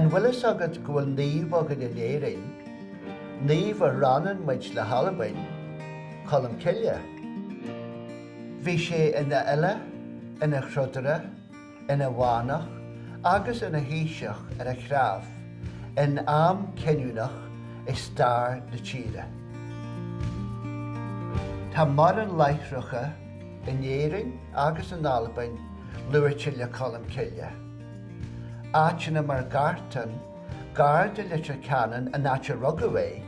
An bhfuil fhios agat go bhfuil naomh againn in Éirinn, naomh a roinneann muid le hAlbain, Colm Cille. Bhí sé ina fhile, ina throdaire, ina mhanach agus ina thaoiseach ar a threabh in am cinniúnach i stair na tíre. Tá mórán láithreacha in Éirinn agus in Albain luaite le Colm Cille, áiteanna mar Gartán gar do Leitir Ceanainn, an áit a rugadh é,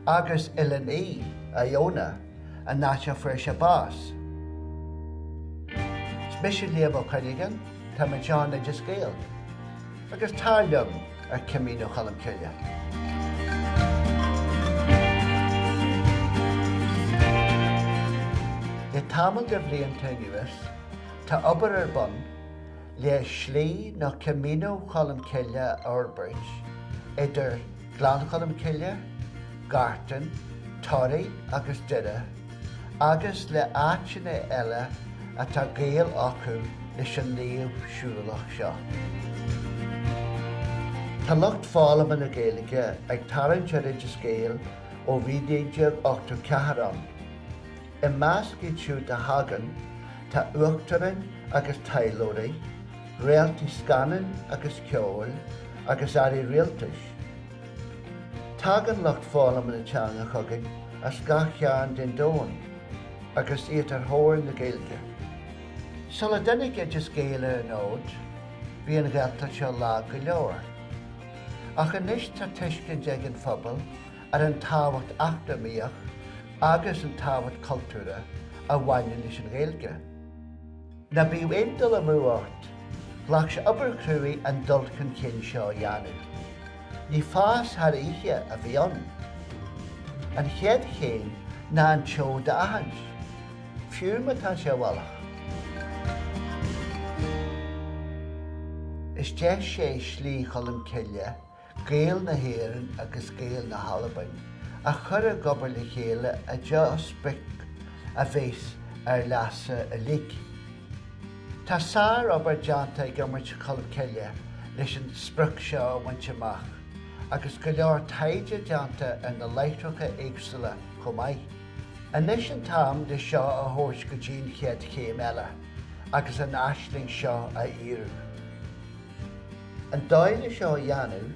agus Oileán Í, Iona. an áit a bhfuair sé bás. Is mise Liam Ó Cuinneagáin, tá mé i gceann Oideas Gael, agus tar liom ar Camino Cholm Cille. Le tamall de bhlianta anuas, tá obair ar bun le Slí nó Camino Cholm Cille a fhorbairt idir. Gleann Cholm Cille, Gartán, Toraigh agus Doire, agus le áiteanna eile atá gaol acu leis an naomh siúlach seo. Tá lucht foghlama na Gaeilge ag tarraingt ar Oideas Gael ó bhí 1984 ann. I measc iad siúd a thagann tá uachtaráin agus taidhleoirí, réaltaí scannáin agus ceoil, agus airí rialtais. Tagann lucht foghlama na teanga chugainn as gach cearn den domhan agus iad ar thóir na Gaeilge. Sula dtáinig Oideas Gael ar an fhód, bhí an Ghaeltacht seo lag go leor. Ach anois tá tuiscint ag an phobal ar an tábhacht eacnamaíoch agus an tábhacht cultúrtha a bhaineann leis an Ghaeilge. Ná bíodh aon dul amú ort, ghlac sé obair chruaidh an dul chun cinn seo a dhéanamh. Ní fás thar oíche a bhí ann. An chéad chéim ná an tseoid a aithint, fiú má tá sé i bhfolach. Is deis é Slí Cholm Cille Gaeil na hÉireann agus Gaeil na hAlbain, a chur ag obair le chéile i dtreo sprioc a bheas ar leasa uilig. Tá sár obair déanta ag Iomairt Cholm Cille leis an sprioc seo a bhaint amach agus go leor taighde déanta ar na láithreacha éagsúla chomh maith. Anois an t-am le seo a thabhairt go dtí an chéad chéim eile agus an aisling seo a fhíorú. An dóigh le seo a dhéanamh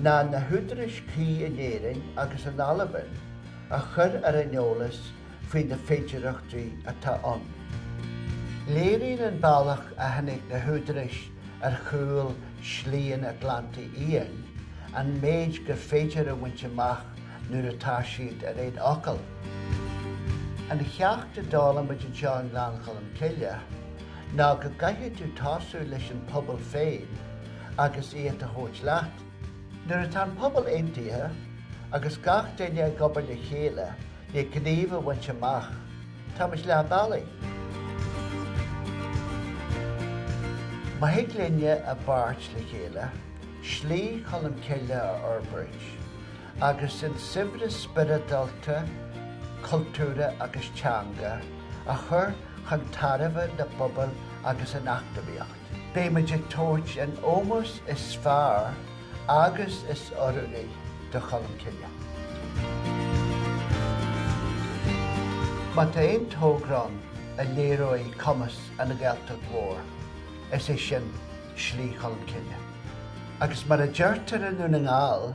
ná na húdaráis cuí in Éirinn agus in Albain a chur ar an eolas faoi na féidearthachtaí atá ann. Léiríonn an bealach a tháinig na húdaráis ar chúl Shlí an Atlantaigh Fhiáin an méid gur féidir a bhaint amach nuair atá siad ar aon fhocal. An cheacht a d'fhoghlaim muid anseo i nGleann Cholm Cille, ná go gcaithfidh tú tosú leis an pobal féin agus iad a thabhairt leat. Nuair atá an pobal aontaithe agus gach duine ag obair le chéile le gníomh a bhaint amach, tá muid leath bealaigh. Má thig linne i bpáirt le chéile Slí Cholmcille a fhorbairt, agus an saibhreas spioradálta, cultúrtha agus teanga a chur chun tairbhe na bpobal agus an eacnamaíocht. Beidh muid ag tabhairt an ómós is fearr agus is oiriúnaí do Cholmcille. Má tá aon togra ann a léireoidh cumas an Ghaeltacht mhór, is é sin Slí Cholmcille. Agus mar a deirtear i nDún na nGall.